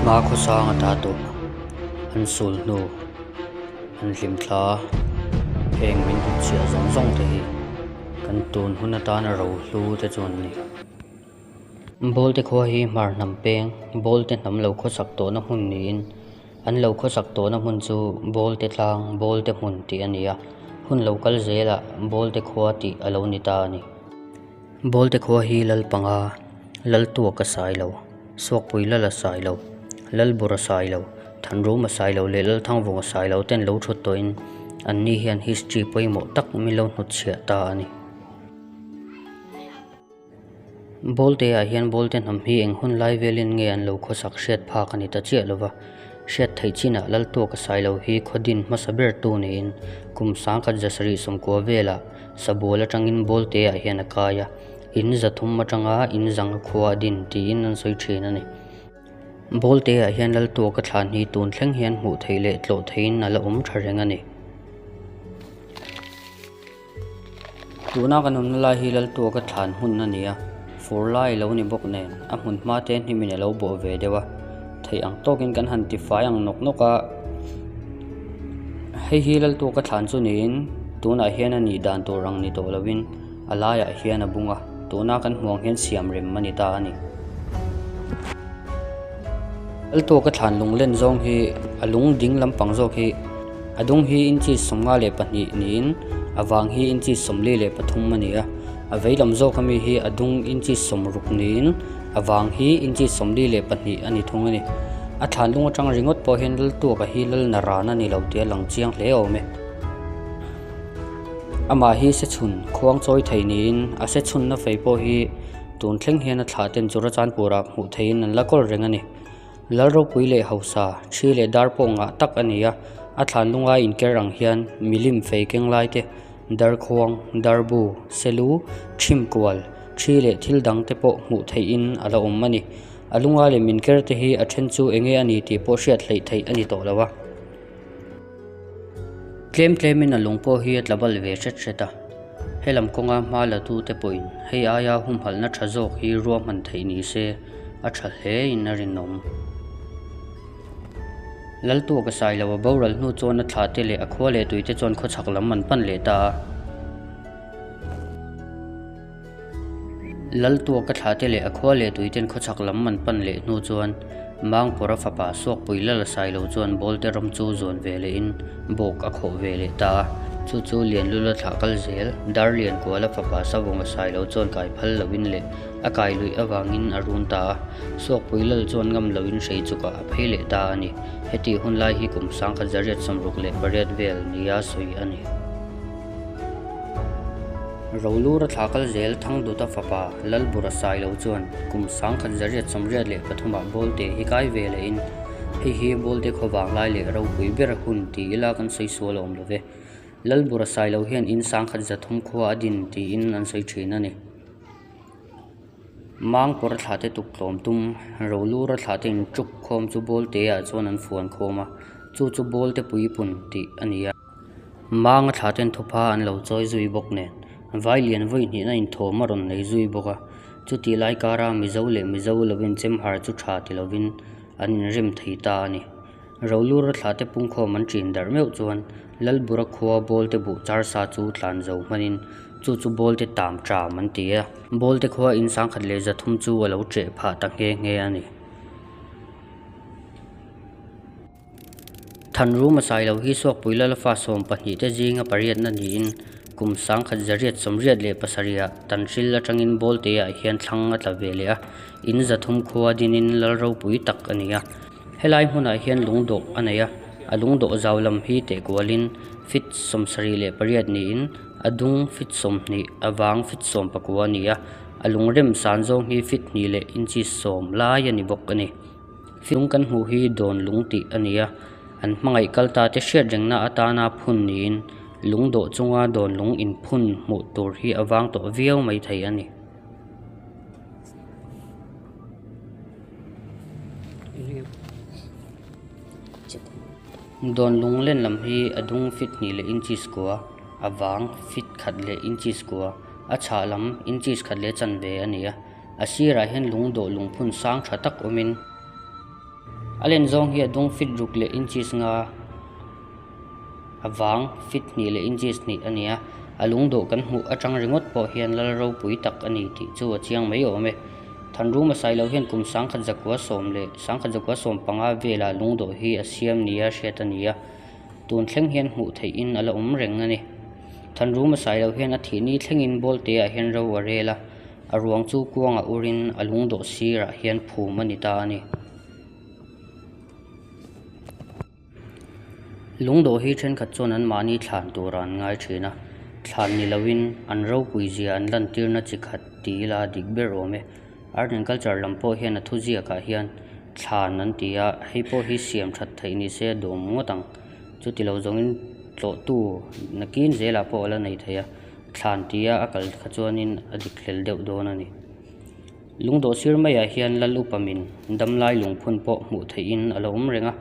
Hma khawsanga ta tur an sul hnu an hlim thla a, heng min inchhiah zawng zawng te hi kan tun hun atan a ro hlu te chuan a ni. Bawlte khua hi hmar hnam peng bawlte hnam lo khawsak tawh na hmun niin an lo khawsak tawh na hmun chu bawlte tlang bawlte hmun tih a ni a, hun lo kal zel ah bawlte khua tih a lo ni ta a ni. Bawlte khua hi lal panga, lal tuak a sai lo, suakpui lal a sai lo, lal bur a sai lo, thanrum a sai lo leh lal thangvung a sai lo ten lo thut tawhin an ni hian history pawimawh tak min lo hnut chhiah ta a ni. Bawlteah hian bawlte hnam hi eng hun lai velin nge an lo khawsak hriat phak a ni ta chiah lo va. Hriat theih chinah Laltuak a sai lo hi khawdin hmasa ber tu niin kum sang khat za sarih sawmkua vela sabual atangin bawlteah hian a kai a, in za thum atanga in zang a khua a din tiin an sawi thin a ni. Bawlteah hian Laltuak a thlan hi tun thleng hian hmuh theih leh tlawh theiin a la awm tha reng a ni. Tuna kan awmna lai hi laltuak a thlan hmun a ni a, fur lai i lo ni bawk nen a hmun hma te hnim in a lo bawh ve deuh a, theih ang tawk in kan han tifai ang nawk nawk a. Hei hi laltuak a thlan chu niin tunah hian a nih dan tur ang ni tawh lo in a laiah hian a bung a, tuna kan hmuh ang hian siam rem a ni ta a ni. Laltuak a thlan lunglen zawng hi a lung ding lampang zawk hi. A dung hi inchi sawmnga leh pahnih niin a vang hi inchi sawmli leh pathum a ni a. A vei lam zawk ami hi a dung inchi sawm ruk niin a vang hi inchi sawmli leh pahnih a ni thung a ni. A thlan lung atang ringawt pawh hian lal tuakah hi lal na ran a ni lo tia lang chiang hle awm e. Amah hi se chhun khuang chawi thei niin a se chhunna fei pawh hi tun thleng hian a thlah ten chu rachan purah hmuh theihin an la kawl reng a ni. Lal ropui leh hausa thi leh dar pawh ngah tak a ni a, a thlan lunga inker ang hian milim fei keng lai te, dar khuang, dar bu, selu, chhim kual, thi leh thil dang te pawh hmuh theih in a la awm a ni. A lunga lem inker te hi a then chu eng nge a ni tih pawh hriat hleih theih a ni tawh lo a. Tlem tlemin a lung pawh hi a tla bal ve hret hret a. He lam kawnga hma latute pawhin hei aia humhalhna tha zawk hi ruahman theih ni se a tha hlein a rinawm. Laltu a ka sai lo a, boral hnu chuan a thlate leh a khua leh tuite chuan khawchhak lam an pan leh ta a. Laltuak ka thlate leh a khua leh tui ten khawchhak lam man pan leh hnu chuan Mangpawra fapa Suakpui Lala sai lo chuan Bawlte ram chu zuan ve leh in bawk a khawh ve leh ta a. Chu chu Lianlula thlah kal zel, Darlian Kuala fapa Savawngah sai lo chuan kai phal lo in leh a kai luih avang in a run ta a. Suakpui Lal chuan ngam lo in hrei chuk ah a phei leh ta a ni. Heti hunlai hi kum sangkhat zariat samruk leh pariat vel ni a sawi a ni. Rolura thla kal zel Thangduta fapa Lalbura sai lo chuan kum sangkhat zariat sawmriat leh pathumah Bawlte hi kai ve leh in hei hi Bawlte khawvang lai leh ropui ber hun ti ila kan sawi sual awm lo ve. Lalbura sai lo hian in sangkhat za thum khua a din ti in an sawi thin a ni. Mang pawra thla te tuk tlawm tum Rolura thla te in tuk khawm chu Bawlte ah chuan an fuan khawm a, chu chu Bawlte pui pun tih a ni a. Manga tha ten thupha an lo chawi zui bawk nen, vai lian vawi hnihna inthawm a rawn nei zui bawk a. Chuti lai kara Mizo leh Mizo lovin chemhar chu tha ti lovin an inrem thei ta a ni. Rolura tha te pungkhawm an ṭin darh meuh chuan Lalbura khua Bawlte buh char sa chu tlan zo hmanin chu chu Bawlte tam ṭam an ti a. Bawlte khua in sangkhat leh zathum chu a lo ṭeh phah ta nghe nghe a ni. Than ru masa i lo hi Sawkpui lal a fa sawm pahnih te zinga pariatna niin kum sangkhat zariat sawmriat leh pasarih ah tan hril atangin Bawlte ah hian thlang a tla ve leh a. In za thum khua dinin lal ropui tak a ni a. Helai hmunah hian lungdawh a nei a, a lungdawh zau lam hi tehkualin fit sawm sarih leh pariat niin a dung fit sawm hnih a vang fit sawm pakua a ni a. A lungrem san zawng hi fit hnih leh inchis sawm lai a ni bawk a ni. Fiung kan hmuh hi dawn lung tih a ni a, an hmangaih kal ta te hriat rengna atana phun niin lungdawh chunga dawn lung in phun hmuh tur hi a vang tawh viau mai thei a ni. Dawn lung len lam hi a dung feet hnih leh inches kua, a vang feet khat leh inches kua, a chhah lam inches khat leh chanve a ni a. A sirah hian lungdaw lungphun sang tha tak awmin a len zawng hi a dung fit ruk leh inches nga a vang fit hnih leh inches hnih a ni a, a lungdaw kan hmuh atang ringawt pawh hian lal ropui tak a ni tih chu a chiang mai awm e. Thanrum a sailo hian kum sangkhat zakua sawm leh sangkhat zakua sawm panga velah lungdaw hi a siam nia hriat a ni a, tun thleng hian hmuh theihin a la awm reng a ni. Thanrum a sailo hian a thihni thlengin bawlteah hian ro a rel a. A ruang chu kuangah urin a lungdaw sirah hian phum a ni ta a ni. Lungdaw hi thenkhat chuan an mahni thlan tura an ngai thin a, thlan ni loin an ropui zia an lantirna chi khat ti ila dik ber awm e. Art and Culture lam pawh hian a thu ziakah hian thlan an ti a, hei pawh hi siam that theih ni se a dum ngawt ang. Chuti lo zawngin tlawhtu nakin zelah pawh a la nei thei a. thlan tia a kal kha chuanin a dik hlel deuh dawn a ni lungdaw sir mai ah hian lal upa min dam lai lungphun pawh hmuh theih in a lo awm reng a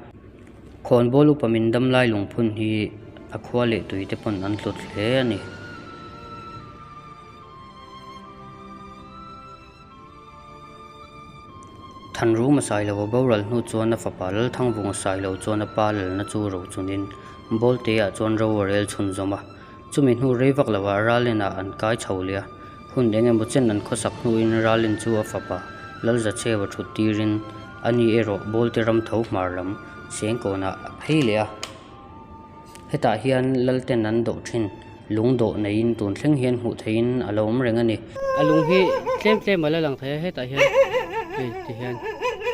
khawn bâwl upa min dam lai lungphun hi a khua leh tui te pawn an hlawt hle a ni. Than rûng a sai lo a boral hnût chuan a fapa lal thang vung a sai lo chuan a pa lalna chu ro chunin bâwl tê ah chuan ro a rêl chhun zawm a. Chumi hnu rei vak lo ah Ralena an kai chho leh a, hun eng emaw chen an khawsak hnu in Ralen chu a fapa Lalza cheu a thut tir in a ni erawh Bawlte ram tho hmar lam Sengkawn ah a phei leh a. Hetah hian Lalten an doh thin, lung dawh nei in tun thleng hian hmuh theih in a lo awm reng a ni. A lung hi tlem tlem a la lang thei a, hetah hian hei ti hian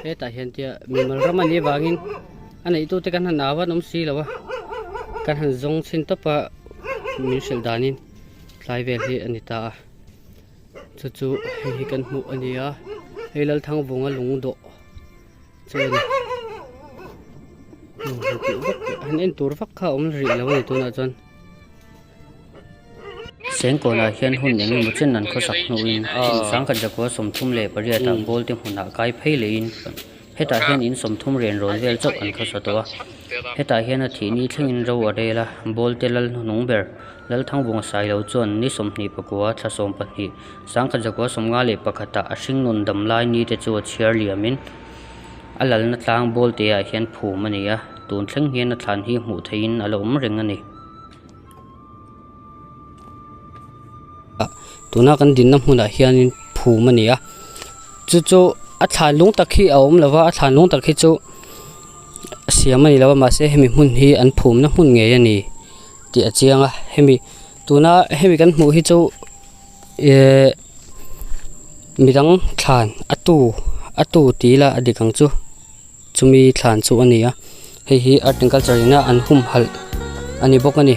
hetah hian tia mimal ram a nih avang in A neitute kan han au a nawm si lo a, kan han zawng chhin tawp a min hrilh danin tlai vel hi a ni ta a. Chu chu hei hi kan hmuh a nia, hei Lalthangbunga Lungdawh chu a ni. Han en tur vak kha a awm rih lo a ni tunah chuan. Sengkawnah hian hun eng emaw chen an khawsak hnuin Sangkhat Zakua sawmthum leh pariatah Bawlte hmunah kai phei leiin hetah hian in sawmthum renrawn vel chauh an khawsa tawh a. Hetah hian a thihni thlengin ro a rel a, Bawlte lal hnung ber, Lalthang bunga sai lo chuan ni sawmhnih pakua, thla sawm pahnih, Sangkhat Zakua sawmnga leh pakhatah a hring nun dam lai ni te chu a chhiar liamin, a lalna tlang ball te ah hian phum a ni a tun thleng hian a thlan hi hmuh theih in a lo awm reng a ni ah tuna kan din na hmun ah hian in phum a ni a chu chu a thlan lung tak hi a awm lo va a thlan lung tak hi chu a siam a ni lo a mah se hemi hmun hi an phum na hmun ngei a ni tih a chiang a hemi tuna hemi kan hmuh hi chu ehh-- midang thlan a tu a tu tih ila a dik ang chu chumi thlan chu a ni a hei hi art and culture ina an hum halh a ni bawk a ni.